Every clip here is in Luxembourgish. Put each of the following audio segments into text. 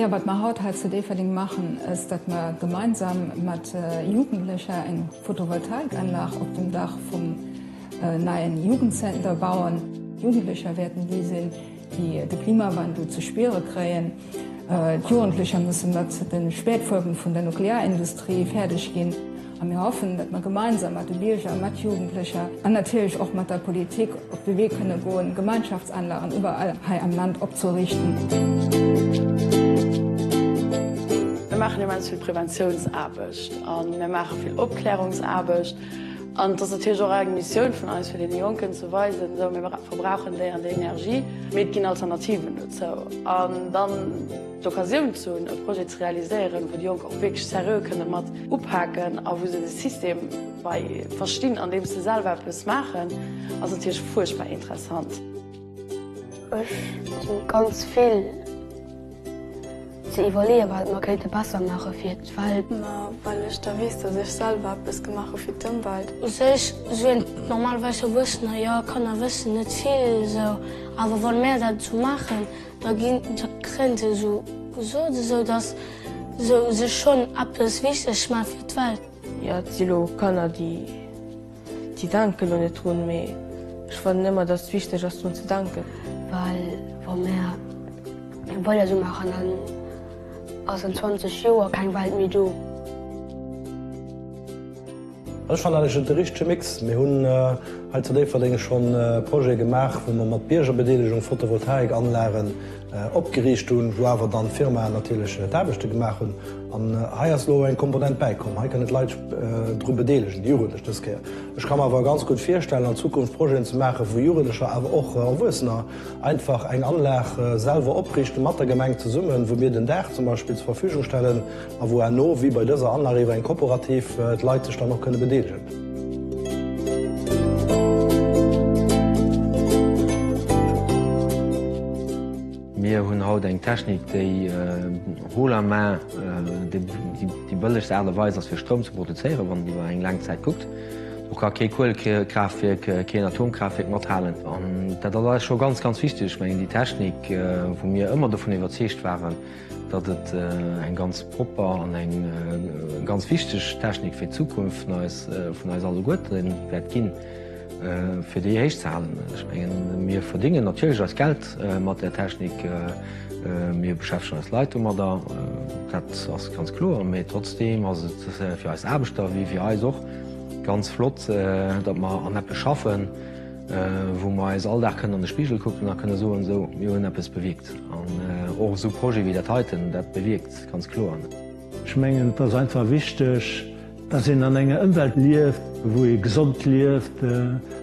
Wat mer haut hei zu Déifferdeng maachen, ass dat mer gemeinsam mat Jugendlecher eng Photovoltaikanlag op dem Dach vum neien Jugendzenter bauen. Jugendlecher wäerten déi sinn, déi de Klimawandel ze spiere kréien. D'Jugendlecher musse mat de Spätfuerben vun der Nuklearindustrie fäerdeg ginn. A mir hoffen, datt mer gemeinsam mat de Bierger, mat Jugendlecher an natierlech och mat der Politik op de Wee kënne goen, Gemeinschaftsanlagen iwwerall hei am Land opzeriichten. Mir maachen immens vill Preventiounsaarbecht a mir maache vill Opklärungsaarbecht. An et ass natierlech och eng Missioun vun eis, fir deene Jonken ze weisen, esou, mir verbrauchen déi an déi Energie, mee et ginn Alternativen dozou. An dann d'Occasioun ze hunn, e Projet ze realiséieren, wou déi Jonk och wierklech seriö kënne mat upaken a wou se de System bei verstinn, andeems se selwer eppes maachen, ass natierlech fuerchtbar interessant. Ech si ganz vill ze iwwerleeën, wat mer kéinte besser maache fir d'Welt. Ma well ech da weess, datt ech selwer eppes gemaach hu fir d'Ëmwelt. U sech sinn normalerweis Erwuessener jo, Kanner wëssen net vill esou, awer wann mär dat esou maachen, da kréien se esou gesot, esou datt se u sech schonn eppes wichteg maache fir d'Welt. Jo, et si elo Kanner, déi. Déi denken lo net drun, mee ech fannen emmer dass et wichteg ass drun ze denken. Well wa mär jo weider sou maachen dann ass an 20 Joer keng Welt méi do. Ech fannen dat e richtege Mix. Mir hunn hei zu Déifferdeng schonn e Projet gemaach wou mer mat Biergerbedeelegung Photovoltaik-Anlagen Opgeriicht hunn, wou awer dann d'Firmaen natierlech d'Aarbechte gemaach hunn. An hei ass elo eng Komponent bäikomm, hei kënnen d'Leit sech dru bedeelegen, déi Jugendlech dës Kéier. Ech ka mer awer ganz gutt virstellen an Zukunft Projeten ze maachen, wou Jugendlecher, awer och Erwuessener einfach eng Anlag selwer oprichten, mat der Gemeng zesummen, wou mir den Daach zum Beispill zur Verfügung stellen, A wou herno, wéi bei dëser Anlag, iwwer eng Kooperativ d'Leit sech dann och kënne bedeelegen. Mir hunn haut eng Technik, déi Roule à main, déi bëllegst Aart a Weis ass fir Stroum ze produzéieren, wann een iwwer eng laang Zäit kuckt. Do ka kee Kuelekraaftwierk, keen Atomkraaftwierk mathalen. An dat ass eis scho ganz, ganz wichteg. Ech mengen, déi Technik, wou mir ëmmer dovun iwwerzeegt waren, datt et eng ganz propper an eng ganz wichteg Technik fir d'Zukunft vun eis, vun eis alleguerte wäert ginn, fir déi héich ze halen. Ech mengen, mir verdéngen natierlech eist Geld mat där Technik, mir beschäftegen eis Leit domadder, dat ass ganz kloer, mä trotzdeem ass et fir eis Aarbechter, wéi fir eis och ganz flott, datt mer an eppes schaffen, Wou mer eis all Dag kënnen an de Spigel kucken a kënne soen, esou, mir hunn eppes bewierkt. An och esou Projete wéi dat heiten, dat bewierkt ganz kloer. Ech mengen, et ass einfach wichteg, dass een an enger Ëmwelt lieft, wou ee gesond lieft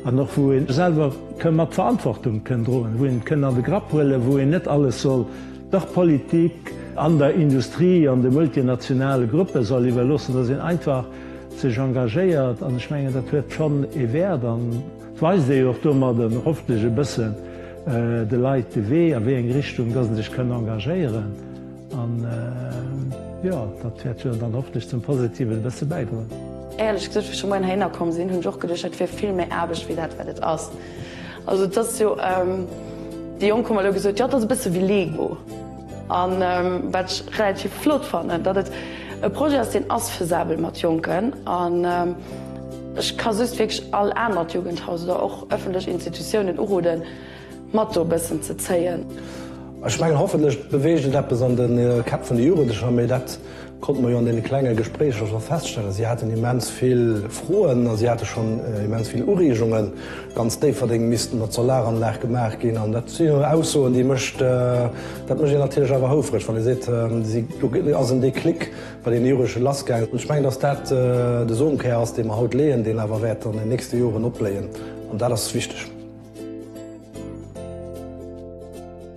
an och wou ee selwer ka mat Verantwortung kënn droen, wou een et kënn an de Grapp huelen, wou een net alles soll der Politik an der Industrie an de multinationale Gruppe soll iwwerloossen, dass een einfach sech engagéiert an ech mengen dat huet schonn ee Wäert an weist ee jo och domadden hoffentlech e bëssen de Leit de Wee a wéi eng Richtung dass en sech kënn engagéieren an jo dat wäert jo dann hoffentlech zum Positiven e bësse bäidroen. Éierlech gesot, wéi ech elo Moien heihinner komm sinn, hunn ech och geduecht, dat wier vill méi Aarbecht wéi dat wat et ass. Also et ass jo, déi Jonk hu mer elo gesot, jo et ass e bësse wéi Lego. A wat ech relativ flott fannen, datt et e Projet ass, deen ass faisabel mat Jonken. An ech ka just wierklech all anert Jugendhaus oder och ëffentlech Institutiounen uroden, mat do e bëssen ze zéien. Ech mengen, hoffentlech beweegt et eppes an de Käpp vun de Jugendlecher. Konnte mer jo an deene klenge Gespréicher scho feststellen. Si haten immens vill Froen a si hate schonn immens vill Ureegungen. Ganz Déifferdeng misst mat Solaranlag gemaach ginn. An dat si jo Aussoen, déi mécht, dat mécht een natierlech awer houfreg, wann ee seet, si, do ass en Déclic bei deene Jugendleche lassgaangen. Ech mengen, datt dat de Somekär ass, dee mer haut leeën, deen awer wäert an den nächste Joren opbléien. An dat ass wichteg.